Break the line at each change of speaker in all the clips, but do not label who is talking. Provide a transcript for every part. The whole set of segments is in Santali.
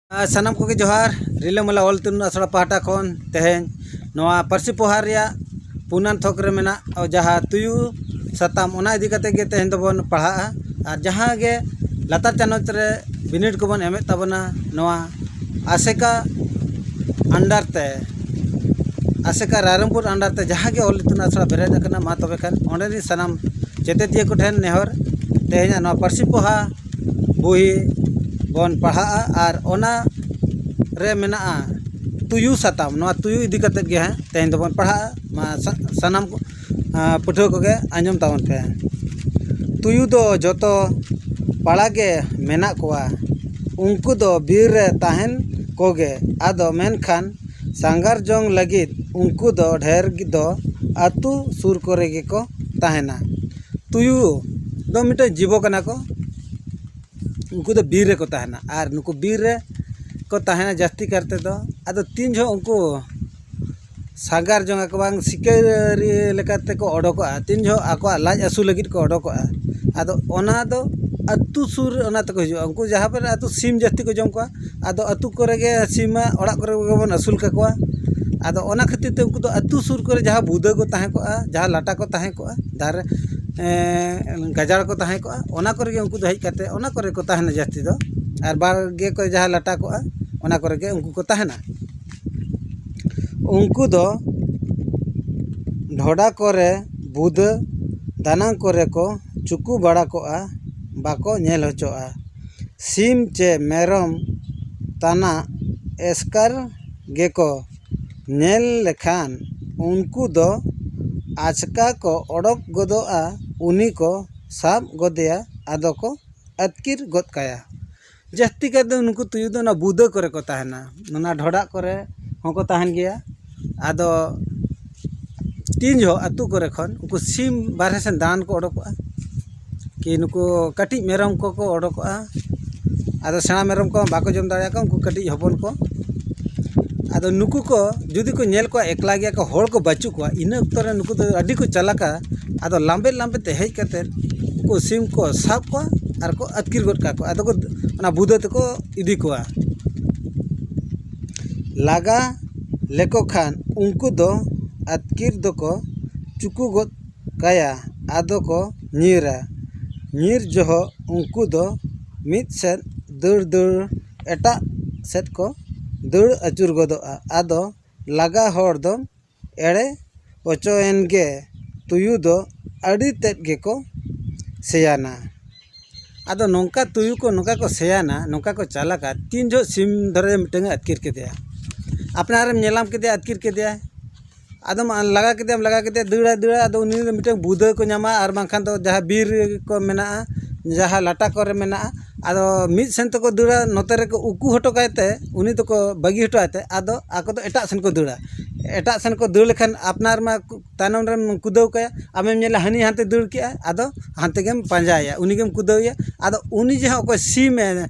ᱥᱟᱱᱟᱢ ᱠᱚᱜᱮ ᱡᱚᱦᱟᱨ ᱨᱤᱞᱟᱹᱢᱟᱞᱟ ᱚᱞ ᱛᱩᱞᱩᱱ ᱟᱥᱲᱟ ᱯᱟᱦᱴᱟ ᱠᱷᱚᱱ ᱛᱮᱦᱮᱧ ᱱᱚᱣᱟ ᱯᱟᱹᱨᱥᱤ ᱯᱚᱦᱟ ᱨᱮᱭᱟᱜ ᱯᱩᱱᱟᱱ ᱛᱷᱚᱠ ᱨᱮ ᱢᱮᱱᱟᱜ ᱡᱟᱦᱟᱸ ᱛᱩᱭᱩ ᱥᱟᱛᱟᱢ ᱚᱱᱟ ᱤᱫᱤ ᱠᱟᱛᱮᱫ ᱜᱮ ᱛᱮᱦᱮᱧ ᱫᱚᱵᱚᱱ ᱯᱟᱲᱦᱟᱜᱼᱟ ᱟᱨ ᱡᱟᱦᱟᱸ ᱜᱮ ᱞᱟᱛᱟᱨ ᱪᱟᱱᱟᱪ ᱨᱮ ᱵᱤᱱᱤᱰ ᱠᱚᱵᱚᱱ ᱮᱢᱮᱫ ᱛᱟᱵᱚᱱᱟ ᱱᱚᱣᱟ ᱟᱥᱮᱠᱟ ᱟᱱᱰᱟᱨ ᱛᱮ ᱟᱥᱮᱠᱟ ᱨᱟᱭᱨᱚᱝᱯᱩᱨ ᱟᱱᱰᱟᱨ ᱛᱮ ᱡᱟᱦᱟᱸ ᱜᱮ ᱚᱞ ᱤᱛᱩᱱ ᱟᱥᱲᱟ ᱵᱮᱨᱮᱫ ᱟᱠᱟᱱᱟ ᱢᱟ ᱛᱚᱵᱮ ᱠᱷᱟᱱ ᱚᱸᱰᱮ ᱨᱮᱱ ᱥᱟᱱᱟᱢ ᱪᱮᱛᱮᱛᱤᱭᱟᱹ ᱠᱚᱴᱷᱮᱱ ᱱᱮᱦᱚᱨ ᱛᱮᱦᱮᱧᱟᱜ ᱱᱚᱣᱟ ᱯᱟᱹᱨᱥᱤ ᱯᱚᱦᱟ ᱵᱳᱭ ᱵᱚᱱ ᱯᱟᱲᱦᱟᱜᱼᱟ ᱟᱨ ᱚᱱᱟ ᱨᱮ ᱢᱮᱱᱟᱜᱼᱟ ᱛᱩᱭᱩ ᱥᱟᱛᱟᱢ ᱱᱚᱣᱟ ᱛᱩᱭᱩ ᱤᱫᱤ ᱠᱟᱛᱮᱫ ᱜᱮ ᱦᱟᱸᱜ ᱛᱮᱦᱮᱧ ᱫᱚᱵᱚᱱ ᱯᱟᱲᱦᱟᱜᱼᱟ ᱢᱟ ᱥᱟᱱᱟᱢ ᱠᱚ ᱯᱟᱹᱴᱷᱩᱣᱟᱹ ᱠᱚᱜᱮ ᱟᱸᱡᱚᱢ ᱛᱟᱵᱚᱱ ᱯᱮ ᱛᱩᱭᱩ ᱫᱚ ᱡᱚᱛᱚ ᱯᱟᱲᱟ ᱜᱮ ᱢᱮᱱᱟᱜ ᱠᱚᱣᱟ ᱩᱱᱠᱩ ᱫᱚ ᱵᱤᱨ ᱨᱮ ᱛᱟᱦᱮᱱ ᱠᱚᱜᱮ ᱟᱫᱚ ᱢᱮᱱᱠᱷᱟᱱ ᱥᱟᱸᱜᱷᱟᱨ ᱡᱚᱝ ᱞᱟᱹᱜᱤᱫ ᱩᱱᱠᱩ ᱫᱚ ᱰᱷᱮᱨ ᱫᱚ ᱟᱹᱛᱩ ᱥᱩᱨ ᱠᱚᱨᱮ ᱜᱮᱠᱚ ᱛᱟᱦᱮᱱᱟ ᱛᱩᱭᱩ ᱫᱚ ᱢᱤᱫᱴᱮᱡ ᱡᱤᱵᱚ ᱠᱟᱱᱟ ᱠᱚ ᱩᱱᱠᱩ ᱫᱚ ᱵᱤᱨ ᱨᱮᱠᱚ ᱛᱟᱦᱮᱱᱟ ᱟᱨ ᱱᱩᱠᱩ ᱵᱤᱨ ᱨᱮ ᱠᱚ ᱛᱟᱦᱮᱱᱟ ᱡᱟᱹᱥᱛᱤ ᱠᱟᱨ ᱛᱮᱫᱚ ᱟᱫᱚ ᱛᱤᱱ ᱡᱚᱦᱚᱜ ᱩᱱᱠᱩ ᱥᱟᱸᱜᱷᱟᱨ ᱡᱚᱝ ᱟᱠᱚ ᱵᱟᱝ ᱥᱤᱠᱟᱹᱨᱤ ᱞᱮᱠᱟ ᱛᱮᱠᱚ ᱚᱰᱚᱠᱚᱜᱼᱟ ᱛᱤᱱ ᱡᱚᱦᱚᱜ ᱟᱠᱚᱣᱟᱜ ᱞᱟᱡ ᱟᱹᱥᱩᱞ ᱞᱟᱹᱜᱤᱫ ᱠᱚ ᱚᱰᱚᱠᱚᱜᱼᱟ ᱟᱫᱚ ᱚᱱᱟ ᱫᱚ ᱟᱛᱳ ᱥᱩᱨ ᱨᱮ ᱚᱱᱟ ᱛᱮᱠᱚ ᱦᱤᱡᱩᱜᱼᱟ ᱩᱱᱠᱩ ᱡᱟᱦᱟᱸ ᱠᱚᱨᱮ ᱟᱛᱳ ᱥᱤᱢ ᱡᱟᱹᱥᱛᱤ ᱠᱚ ᱡᱚᱢ ᱠᱚᱣᱟ ᱟᱫᱚ ᱟᱹᱛᱩ ᱠᱚᱨᱮ ᱜᱮ ᱥᱤᱢᱟᱜ ᱚᱲᱟᱜ ᱠᱚᱨᱮ ᱜᱮᱵᱚᱱ ᱟᱹᱥᱩᱞ ᱠᱟᱠᱚᱣᱟ ᱟᱫᱚ ᱚᱱᱟ ᱠᱷᱟᱹᱛᱤᱨ ᱛᱮ ᱩᱱᱠᱩ ᱫᱚ ᱟᱹᱛᱩ ᱥᱩᱨ ᱠᱚᱨᱮ ᱡᱟᱦᱟᱸ ᱵᱩᱫᱟᱹ ᱠᱚ ᱛᱟᱦᱮᱸ ᱠᱚᱜᱼᱟ ᱡᱟᱦᱟᱸ ᱞᱟᱴᱟ ᱠᱚ ᱛᱟᱦᱮᱸ ᱠᱚᱜᱼᱟ ᱫᱟᱨᱮ ᱜᱟᱡᱟᱲ ᱠᱚ ᱛᱟᱦᱮᱸ ᱠᱚᱜᱼᱟ ᱚᱱᱟ ᱠᱚᱨᱮ ᱜᱮ ᱩᱱᱠᱩ ᱫᱚ ᱦᱮᱡ ᱠᱟᱛᱮᱫ ᱚᱱᱟ ᱠᱚᱨᱮ ᱠᱚ ᱛᱟᱦᱮᱱᱟ ᱡᱟᱹᱥᱛᱤ ᱫᱚ ᱟᱨ ᱵᱟᱲᱜᱮ ᱠᱚᱨᱮ ᱡᱟᱦᱟᱸ ᱞᱟᱴᱟ ᱠᱚᱜᱼᱟ ᱚᱱᱟ ᱠᱚᱨᱮ ᱜᱮ ᱩᱱᱠᱩ ᱠᱚ ᱛᱟᱦᱮᱱᱟ ᱩᱱᱠᱩ ᱫᱚ ᱰᱷᱚᱰᱟ ᱠᱚᱨᱮ ᱵᱩᱫᱟᱹ ᱫᱟᱱᱟᱝ ᱠᱚᱨᱮ ᱠᱚ ᱪᱩᱠᱩ ᱵᱟᱲᱟ ᱠᱚᱜᱼᱟ ᱵᱟᱠᱚ ᱧᱮᱞ ᱦᱚᱪᱚᱜᱼᱟ ᱥᱤᱢ ᱪᱮ ᱢᱮᱨᱚᱢ ᱛᱟᱱᱟᱜ ᱮᱥᱠᱟᱨ ᱜᱮᱠᱚ ᱧᱮᱞ ᱞᱮᱠᱷᱟᱱ ᱩᱱᱠᱩ ᱫᱚ ᱟᱪᱠᱟ ᱠᱚ ᱚᱰᱚᱠ ᱜᱚᱫᱚᱜᱼᱟ ᱩᱱᱤ ᱠᱚ ᱥᱟᱵ ᱜᱚᱫᱮᱭᱟ ᱟᱫᱚ ᱠᱚ ᱟᱹᱛᱠᱤᱨ ᱜᱚᱫ ᱠᱟᱭᱟ ᱡᱟᱹᱥᱛᱤ ᱠᱟᱭᱛᱮ ᱱᱩᱠᱩ ᱛᱩᱭᱩ ᱫᱚ ᱚᱱᱟ ᱵᱩᱫᱟᱹ ᱠᱚᱨᱮ ᱠᱚ ᱛᱟᱦᱮᱱᱟ ᱚᱱᱟ ᱰᱷᱚᱰᱟᱜ ᱠᱚᱨᱮ ᱦᱚᱸᱠᱚ ᱛᱟᱦᱮᱱ ᱜᱮᱭᱟ ᱟᱫᱚ ᱛᱤᱱ ᱡᱚᱦᱚᱜ ᱟᱛᱳ ᱠᱚᱨᱮ ᱠᱷᱚᱱ ᱩᱱᱠᱩ ᱥᱤᱢ ᱵᱟᱦᱨᱮ ᱥᱮᱱ ᱫᱟᱬᱟᱱ ᱠᱚ ᱚᱰᱚᱠᱚᱜᱼᱟ ᱠᱤ ᱱᱩᱠᱩ ᱠᱟᱹᱴᱤᱡ ᱢᱮᱨᱚᱢ ᱠᱚᱠᱚ ᱚᱰᱚᱠᱚᱜᱼᱟ ᱟᱫᱚ ᱥᱮᱬᱟ ᱢᱮᱨᱚᱢ ᱠᱚ ᱵᱟᱠᱚ ᱡᱚᱢ ᱫᱟᱲᱮᱭᱟᱠᱚᱣᱟ ᱩᱱᱠᱩ ᱠᱟᱹᱴᱤᱡ ᱦᱚᱯᱚᱱ ᱠᱚ ᱟᱫᱚ ᱱᱩᱠᱩ ᱠᱚ ᱡᱩᱫᱤ ᱠᱚ ᱧᱮᱞ ᱠᱚᱣᱟ ᱮᱠᱞᱟ ᱜᱮᱭᱟ ᱠᱚ ᱦᱚᱲ ᱠᱚ ᱵᱟᱹᱪᱩᱜ ᱠᱚᱣᱟ ᱤᱱᱟᱹ ᱚᱠᱛᱚ ᱨᱮ ᱱᱩᱠᱩ ᱫᱚ ᱟᱹᱰᱤ ᱠᱚ ᱪᱟᱞᱟᱠᱟ ᱟᱫᱚ ᱞᱟᱢᱵᱮ ᱞᱟᱢᱵᱮ ᱛᱮ ᱦᱮᱡ ᱠᱟᱛᱮᱫ ᱩᱱᱠᱩ ᱥᱤᱢ ᱠᱚ ᱥᱟᱵ ᱠᱚᱣᱟ ᱟᱨ ᱠᱚ ᱟᱹᱛᱠᱤᱨ ᱜᱚᱫ ᱠᱟᱠᱚᱣᱟ ᱟᱫᱚ ᱠᱚ ᱚᱱᱟ ᱵᱩᱫᱟᱹ ᱛᱮᱠᱚ ᱤᱫᱤ ᱠᱚᱣᱟ ᱞᱟᱜᱟ ᱞᱮᱠᱚ ᱠᱷᱟᱱ ᱩᱱᱠᱩ ᱫᱚ ᱟᱹᱛᱠᱤᱨ ᱫᱚᱠᱚ ᱪᱩᱠᱩ ᱜᱚᱫ ᱠᱟᱭᱟ ᱟᱫᱚ ᱠᱚ ᱧᱤᱨᱟ ᱧᱤᱨ ᱡᱚᱦᱚᱜ ᱩᱱᱠᱩ ᱫᱚ ᱢᱤᱫ ᱥᱮᱫ ᱫᱟᱹᱲ ᱫᱟᱹᱲ ᱮᱴᱟᱜ ᱥᱮᱫ ᱠᱚ ᱫᱟᱹᱲ ᱟᱹᱪᱩᱨ ᱜᱚᱫᱚᱜᱼᱟ ᱟᱫᱚ ᱞᱟᱜᱟ ᱦᱚᱲ ᱫᱚ ᱮᱲᱮ ᱦᱚᱪᱚᱭᱮᱱ ᱜᱮ ᱛᱩᱭᱩ ᱫᱚ ᱟᱹᱰᱤ ᱛᱮᱫ ᱜᱮᱠᱚ ᱥᱮᱭᱟᱱᱟ ᱟᱫᱚ ᱱᱚᱝᱠᱟ ᱛᱩᱭᱩ ᱠᱚ ᱱᱚᱝᱠᱟ ᱠᱚ ᱥᱮᱭᱟᱱᱟ ᱱᱚᱝᱠᱟ ᱠᱚ ᱪᱟᱞᱟᱠᱟ ᱛᱤᱱ ᱡᱚᱦᱚᱜ ᱥᱤᱢ ᱫᱷᱚᱨᱮ ᱢᱤᱫᱴᱟᱹᱝ ᱮ ᱟᱹᱛᱠᱤᱨ ᱠᱮᱫᱮᱭᱟ ᱟᱯᱱᱟᱨᱮᱢ ᱧᱮᱞ ᱧᱟᱢ ᱠᱮᱫᱮᱭᱟ ᱟᱹᱛᱠᱤᱨ ᱠᱮᱫᱮᱭᱟᱭ ᱟᱫᱚᱢ ᱞᱟᱜᱟ ᱠᱮᱫᱮᱭᱟᱢ ᱞᱟᱜᱟ ᱠᱮᱫᱮᱭᱟᱢ ᱫᱟᱹᱲᱟᱭ ᱫᱟᱹᱲᱟᱭ ᱟᱫᱚ ᱩᱱᱤ ᱫᱚ ᱢᱤᱫᱴᱮᱱ ᱵᱩᱫᱟᱹ ᱠᱚ ᱧᱟᱢᱟ ᱟᱨ ᱵᱟᱝᱠᱷᱟᱱ ᱫᱚ ᱡᱟᱦᱟᱸ ᱵᱤᱨ ᱠᱚ ᱢᱮᱱᱟᱜᱼᱟ ᱡᱟᱦᱟᱸ ᱞᱟᱴᱟ ᱠᱚᱨᱮ ᱢᱮᱱᱟᱜᱼᱟ ᱟᱫᱚ ᱢᱤᱫ ᱥᱮᱱ ᱛᱮᱠᱚ ᱫᱟᱹᱲᱟ ᱱᱚᱛᱮ ᱨᱮᱠᱚ ᱩᱠᱩ ᱦᱚᱴᱚ ᱠᱟᱭ ᱛᱮ ᱩᱱᱤ ᱫᱚᱠᱚ ᱵᱟᱹᱜᱤ ᱦᱚᱴᱚ ᱟᱭᱛᱮ ᱟᱫᱚ ᱟᱠᱚ ᱫᱚ ᱮᱴᱟᱜ ᱥᱮᱱ ᱠᱚ ᱫᱟᱹᱲᱟ ᱮᱴᱟᱜ ᱥᱮᱱ ᱠᱚ ᱫᱟᱹᱲ ᱞᱮᱠᱷᱟᱱ ᱟᱯᱱᱟᱨ ᱢᱟ ᱛᱟᱭᱱᱚᱢ ᱨᱮᱢ ᱠᱩᱫᱟᱹᱣ ᱠᱟᱭᱟ ᱟᱢᱮᱢ ᱧᱮᱞᱟ ᱦᱟᱹᱱᱤ ᱦᱟᱱᱛᱮ ᱫᱟᱹᱲ ᱠᱮᱜᱼᱟᱭ ᱟᱫᱚ ᱦᱟᱱᱛᱮ ᱜᱮᱢ ᱯᱟᱸᱡᱟᱭᱮᱭᱟ ᱩᱱᱤ ᱜᱮᱢ ᱠᱩᱫᱟᱹᱣ ᱮᱭᱟ ᱟᱫᱚ ᱩᱱᱤ ᱡᱟᱦᱟᱸ ᱚᱠᱚᱭ ᱥᱤᱢᱮ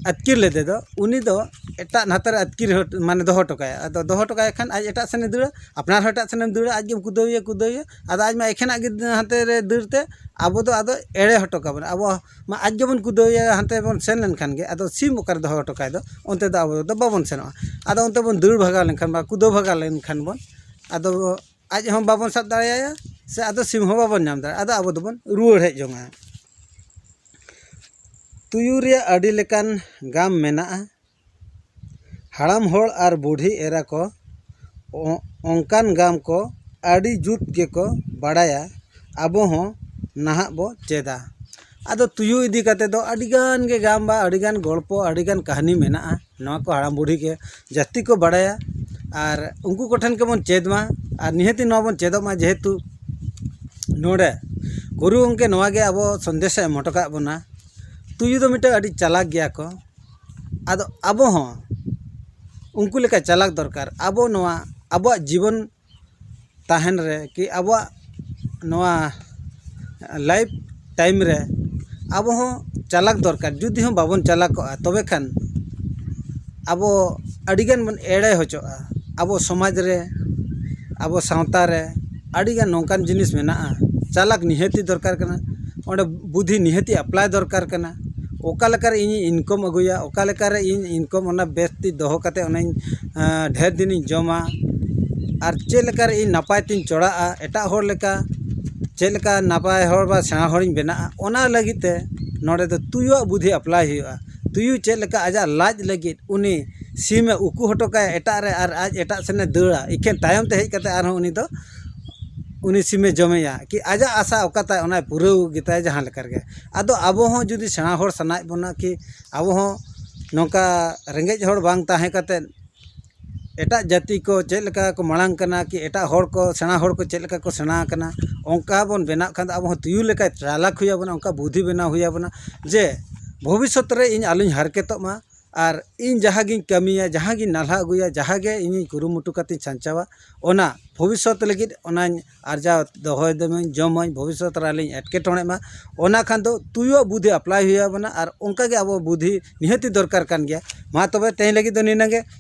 ᱟᱹᱛᱠᱤᱨ ᱞᱮᱫᱮ ᱫᱚ ᱩᱱᱤ ᱫᱚ ᱮᱴᱟᱜ ᱱᱟᱛᱮ ᱨᱮ ᱟᱹᱛᱠᱤᱨ ᱢᱟᱱᱮ ᱫᱚᱦᱚ ᱦᱚᱴᱚ ᱠᱟᱭᱟᱭ ᱟᱫᱚ ᱫᱚᱦᱚ ᱦᱚᱴᱚ ᱠᱟᱭ ᱠᱷᱟᱱ ᱟᱡ ᱮᱴᱟᱜ ᱥᱮᱱᱮ ᱫᱟᱹᱲᱟ ᱟᱯᱱᱟᱨ ᱦᱚᱸ ᱮᱴᱟᱜ ᱥᱮᱱᱮᱢ ᱫᱟᱹᱲᱟ ᱟᱡ ᱜᱮᱢ ᱠᱩᱫᱟᱹᱣᱮᱭᱟ ᱠᱩᱫᱟᱹᱣᱮᱭᱟ ᱟᱫᱚ ᱟᱡ ᱢᱟ ᱮᱠᱷᱮᱱᱟᱜ ᱜᱮ ᱦᱟᱱᱛᱮ ᱨᱮ ᱫᱟᱹᱲ ᱛᱮ ᱟᱵᱚ ᱫᱚ ᱟᱫᱚᱭ ᱮᱲᱮ ᱦᱚᱴᱚ ᱠᱟᱵᱚᱱᱟ ᱟᱵᱚ ᱢᱟ ᱟᱡ ᱜᱮᱵᱚᱱ ᱠᱩᱫᱟᱹᱣᱮᱭᱟ ᱦᱟᱱᱛᱮ ᱵᱚᱱ ᱥᱮᱱ ᱞᱮᱱᱠᱷᱟᱱ ᱜᱮ ᱟᱫᱚ ᱥᱤᱢ ᱚᱠᱟᱨᱮ ᱫᱚᱦᱚ ᱦᱚᱴᱚ ᱠᱟᱭ ᱫᱚ ᱚᱱᱛᱮ ᱫᱚ ᱟᱵᱚ ᱫᱚ ᱵᱟᱵᱚᱱ ᱥᱮᱱᱚᱜᱼᱟ ᱟᱫᱚ ᱚᱱᱛᱮ ᱵᱚᱱ ᱫᱟᱹᱲ ᱵᱷᱟᱜᱟᱣ ᱞᱮᱱᱠᱷᱟᱱ ᱵᱟ ᱠᱩᱫᱟᱹᱣ ᱵᱷᱟᱜᱟᱣ ᱞᱮᱱᱠᱷᱟᱱ ᱵᱚᱱ ᱟᱫᱚ ᱟᱡ ᱦᱚᱸ ᱵᱟᱵᱚᱱ ᱥᱟᱵ ᱫᱟᱲᱮ ᱟᱭᱟ ᱥᱮ ᱟᱫᱚ ᱥᱤᱢ ᱦᱚᱸ ᱵᱟᱵᱚᱱ ᱧᱟᱢ ᱫᱟᱲᱮ ᱟᱭᱟ ᱟᱫᱚ ᱟᱵᱚ ᱫᱚᱵᱚᱱ ᱨᱩᱣᱟᱹᱲ ᱦᱮᱡ ᱡᱚᱝᱼᱟ ᱛᱩᱭᱩ ᱨᱮᱭᱟᱜ ᱟᱹᱰᱤ ᱞᱮᱠᱟᱱ ᱜᱟᱢ ᱢᱮᱱᱟᱜᱼᱟ ᱦᱟᱲᱟᱢ ᱦᱚᱲ ᱟᱨ ᱵᱩᱰᱷᱤ ᱮᱨᱟ ᱠᱚ ᱚᱱᱠᱟᱱ ᱜᱟᱢ ᱠᱚ ᱟᱹᱰᱤ ᱡᱩᱛ ᱜᱮᱠᱚ ᱵᱟᱲᱟᱭᱟ ᱟᱵᱚ ᱦᱚᱸ ᱱᱟᱦᱟᱜ ᱵᱚ ᱪᱮᱫᱟ ᱟᱫᱚ ᱛᱩᱭᱩ ᱤᱫᱤ ᱠᱟᱛᱮ ᱫᱚ ᱟᱹᱰᱤ ᱜᱟᱱ ᱜᱮ ᱜᱟᱢ ᱵᱟ ᱟᱹᱰᱤ ᱜᱟᱱ ᱜᱚᱞᱯᱚ ᱟᱹᱰᱤ ᱜᱟᱱ ᱠᱟᱹᱦᱱᱤ ᱢᱮᱱᱟᱜᱼᱟ ᱱᱚᱣᱟ ᱠᱚ ᱦᱟᱲᱟᱢ ᱵᱩᱲᱦᱤ ᱜᱮ ᱡᱟᱹᱥᱛᱤ ᱠᱚ ᱵᱟᱲᱟᱭᱟ ᱟᱨ ᱩᱱᱠᱩ ᱠᱚᱴᱷᱮᱱ ᱜᱮᱵᱚᱱ ᱪᱮᱫ ᱢᱟ ᱟᱨ ᱱᱤᱦᱟᱹᱛᱤ ᱱᱚᱣᱟ ᱵᱚᱱ ᱪᱮᱫᱚᱜ ᱢᱟ ᱡᱮᱦᱮᱛᱩ ᱱᱚᱰᱮ ᱜᱩᱨᱩ ᱜᱚᱢᱠᱮ ᱱᱚᱣᱟ ᱜᱮ ᱟᱵᱚ ᱥᱚᱱᱫᱮᱥᱮ ᱮᱢ ᱦᱚᱴᱚ ᱠᱟᱜ ᱵᱚᱱᱟ ᱛᱩᱭᱩ ᱫᱚ ᱢᱤᱫᱴᱮᱱ ᱟᱹᱰᱤ ᱪᱟᱞᱟᱠ ᱜᱮᱭᱟ ᱠᱚ ᱟᱫᱚ ᱟᱵᱚ ᱦᱚᱸ ᱩᱱᱠᱩ ᱞᱮᱠᱟ ᱪᱟᱞᱟᱠ ᱫᱚᱨᱠᱟᱨ ᱟᱵᱚ ᱱᱚᱣᱟ ᱟᱵᱚᱣᱟᱜ ᱡᱤᱵᱚᱱ ᱛᱟᱦᱮᱱ ᱨᱮ ᱠᱤ ᱟᱵᱚᱣᱟᱜ ᱱᱚᱣᱟ ᱞᱟᱭᱤᱯᱷ ᱴᱟᱭᱤᱢ ᱨᱮ ᱟᱵᱚ ᱦᱚᱸ ᱪᱟᱞᱟᱠ ᱫᱚᱨᱠᱟᱨ ᱡᱩᱫᱤ ᱦᱚᱸ ᱵᱟᱵᱚᱱ ᱪᱟᱞᱟᱠᱚᱜᱼᱟ ᱛᱚᱵᱮ ᱠᱷᱟᱱ ᱟᱵᱚ ᱟᱹᱰᱤ ᱜᱟᱱ ᱵᱚᱱ ᱮᱲᱮ ᱦᱚᱪᱚᱜᱼᱟ ᱟᱵᱚ ᱥᱚᱢᱟᱡᱽ ᱨᱮ ᱟᱵᱚ ᱥᱟᱶᱛᱟ ᱨᱮ ᱟᱹᱰᱤ ᱜᱟᱱ ᱱᱚᱝᱠᱟᱱ ᱡᱤᱱᱤᱥ ᱢᱮᱱᱟᱜᱼᱟ ᱪᱟᱞᱟᱠ ᱱᱤᱦᱟᱹᱛ ᱜᱮ ᱫᱚᱨᱠᱟᱨ ᱠᱟᱱᱟ ᱚᱸᱰᱮ ᱵᱩᱫᱷᱤ ᱱᱤᱦᱟᱹᱛ ᱜᱮ ᱮᱯᱞᱟᱭ ᱫᱚᱨᱠᱟᱨ ᱠᱟᱱᱟ ᱚᱠᱟ ᱞᱮᱠᱟᱨᱮ ᱤᱧᱤᱧ ᱤᱱᱠᱟᱢ ᱟᱹᱜᱩᱭᱟ ᱚᱠᱟ ᱞᱮᱠᱟᱨᱮ ᱤᱧ ᱤᱱᱠᱟᱢ ᱚᱱᱟ ᱵᱮᱥ ᱛᱮ ᱫᱚᱦᱚ ᱠᱟᱛᱮᱫ ᱚᱱᱟᱧ ᱰᱷᱮᱨ ᱫᱤᱱᱤᱧ ᱡᱚᱢᱟ ᱟᱨ ᱪᱮᱫ ᱞᱮᱠᱟ ᱨᱮ ᱤᱧ ᱱᱟᱯᱟᱭ ᱛᱤᱧ ᱪᱚᱲᱟᱜᱼᱟ ᱮᱴᱟᱜ ᱦᱚᱲ ᱞᱮᱠᱟ ᱪᱮᱫ ᱞᱮᱠᱟ ᱱᱟᱯᱟᱭ ᱦᱚᱲ ᱵᱟ ᱥᱮᱬᱟ ᱦᱚᱲᱤᱧ ᱵᱮᱱᱟᱜᱼᱟ ᱚᱱᱟ ᱞᱟᱹᱜᱤᱫ ᱛᱮ ᱱᱚᱰᱮ ᱫᱚ ᱛᱩᱭᱩᱣᱟᱜ ᱵᱩᱫᱷᱤ ᱮᱯᱞᱟᱭ ᱦᱩᱭᱩᱜᱼᱟ ᱛᱩᱭᱩ ᱪᱮᱫ ᱞᱮᱠᱟ ᱟᱡᱟᱜ ᱞᱟᱡ ᱞᱟᱹᱜᱤᱫ ᱩᱱᱤ ᱥᱤᱢᱮ ᱩᱠᱩ ᱦᱚᱴᱚ ᱠᱟᱭᱟ ᱮᱴᱟᱜ ᱨᱮ ᱟᱨ ᱟᱡ ᱮᱴᱟᱜ ᱥᱮᱱᱮ ᱫᱟᱹᱲᱟ ᱮᱠᱷᱮᱱ ᱛᱟᱭᱚᱢ ᱛᱮ ᱦᱮᱡ ᱠᱟᱛᱮ ᱟᱨᱦᱚᱸ ᱩᱱᱤ ᱫᱚ ᱩᱱᱤ ᱥᱤᱢᱮ ᱡᱚᱢᱮᱭᱟ ᱠᱤ ᱟᱡᱟᱜ ᱟᱥᱟ ᱚᱠᱟ ᱛᱟᱭ ᱚᱱᱟᱭ ᱯᱩᱨᱟᱹᱣ ᱜᱮᱛᱟᱭᱟ ᱡᱟᱦᱟᱸ ᱞᱮᱠᱟ ᱨᱮᱜᱮ ᱟᱫᱚ ᱟᱵᱚ ᱦᱚᱸ ᱡᱩᱫᱤ ᱥᱮᱬᱟ ᱦᱚᱲ ᱥᱟᱱᱟᱭᱮᱫ ᱵᱚᱱᱟ ᱠᱤ ᱟᱵᱚ ᱦᱚᱸ ᱱᱚᱝᱠᱟ ᱨᱮᱸᱜᱮᱡ ᱦᱚᱲ ᱵᱟᱝ ᱛᱟᱦᱮᱸ ᱠᱟᱛᱮᱫ ᱮᱴᱟᱜ ᱡᱟᱹᱛᱤ ᱠᱚ ᱪᱮᱫ ᱞᱮᱠᱟ ᱠᱚ ᱢᱟᱲᱟᱝ ᱠᱟᱱᱟ ᱠᱤ ᱮᱴᱟᱜ ᱦᱚᱲ ᱠᱚ ᱥᱮᱬᱟ ᱦᱚᱲ ᱠᱚ ᱪᱮᱫ ᱞᱮᱠᱟ ᱠᱚ ᱥᱮᱬᱟ ᱟᱠᱟᱱᱟ ᱚᱱᱠᱟ ᱵᱚᱱ ᱵᱮᱱᱟᱜ ᱠᱷᱟᱱ ᱫᱚ ᱟᱵᱚ ᱦᱚᱸ ᱛᱩᱭᱩ ᱞᱮᱠᱟ ᱪᱟᱞᱟᱠ ᱦᱩᱭ ᱟᱵᱚᱱᱟ ᱚᱱᱠᱟ ᱵᱩᱫᱷᱤ ᱵᱮᱱᱟᱣ ᱦᱩᱭ ᱟᱵᱚᱱᱟ ᱡᱮ ᱵᱷᱚᱵᱤᱥᱥᱚᱛ ᱨᱮ ᱤᱧ ᱟᱞᱚᱧ ᱦᱟᱨᱠᱮᱛᱚᱜ ᱢᱟ ᱟᱨ ᱤᱧ ᱡᱟᱦᱟᱸ ᱜᱤᱧ ᱠᱟᱹᱢᱤᱭᱟ ᱡᱟᱦᱟᱸ ᱜᱤᱧ ᱱᱟᱞᱦᱟ ᱟᱹᱜᱩᱭᱟ ᱡᱟᱦᱟᱸ ᱜᱮ ᱤᱧᱤᱧ ᱠᱩᱨᱩᱢᱩᱴᱩ ᱠᱟᱛᱮᱧ ᱥᱟᱧᱪᱟᱣᱟ ᱚᱱᱟ ᱵᱷᱚᱵᱤᱥᱥᱚᱛ ᱞᱟᱹᱜᱤᱫ ᱚᱱᱟᱧ ᱟᱨᱡᱟᱣ ᱫᱚᱦᱚᱭ ᱫᱟᱹᱧ ᱡᱚᱢᱟᱹᱧ ᱵᱷᱚᱵᱤᱥᱥᱚᱛ ᱨᱮ ᱟᱞᱚᱧ ᱮᱴᱠᱮᱴᱚᱬᱮᱜ ᱢᱟ ᱚᱱᱟ ᱠᱷᱟᱱ ᱫᱚ ᱛᱩᱭᱩᱣᱟᱜ ᱵᱩᱫᱷᱤ ᱮᱯᱞᱟᱭ ᱦᱩᱭ ᱟᱵᱚᱱᱟ ᱟᱨ ᱚᱱᱠᱟ ᱜᱮ ᱟᱵᱚ ᱵᱩᱫᱷᱤ ᱱᱤᱦᱟᱹᱛ ᱜᱮ ᱫᱚᱨᱠᱟᱨ ᱠᱟᱱ ᱜᱮᱭᱟ ᱢᱟ ᱛᱚᱵᱮ ᱛᱮᱦᱮᱧ ᱞᱟᱹᱜᱤᱫ ᱫᱚ ᱱᱤᱱᱟᱹᱜ ᱜᱮ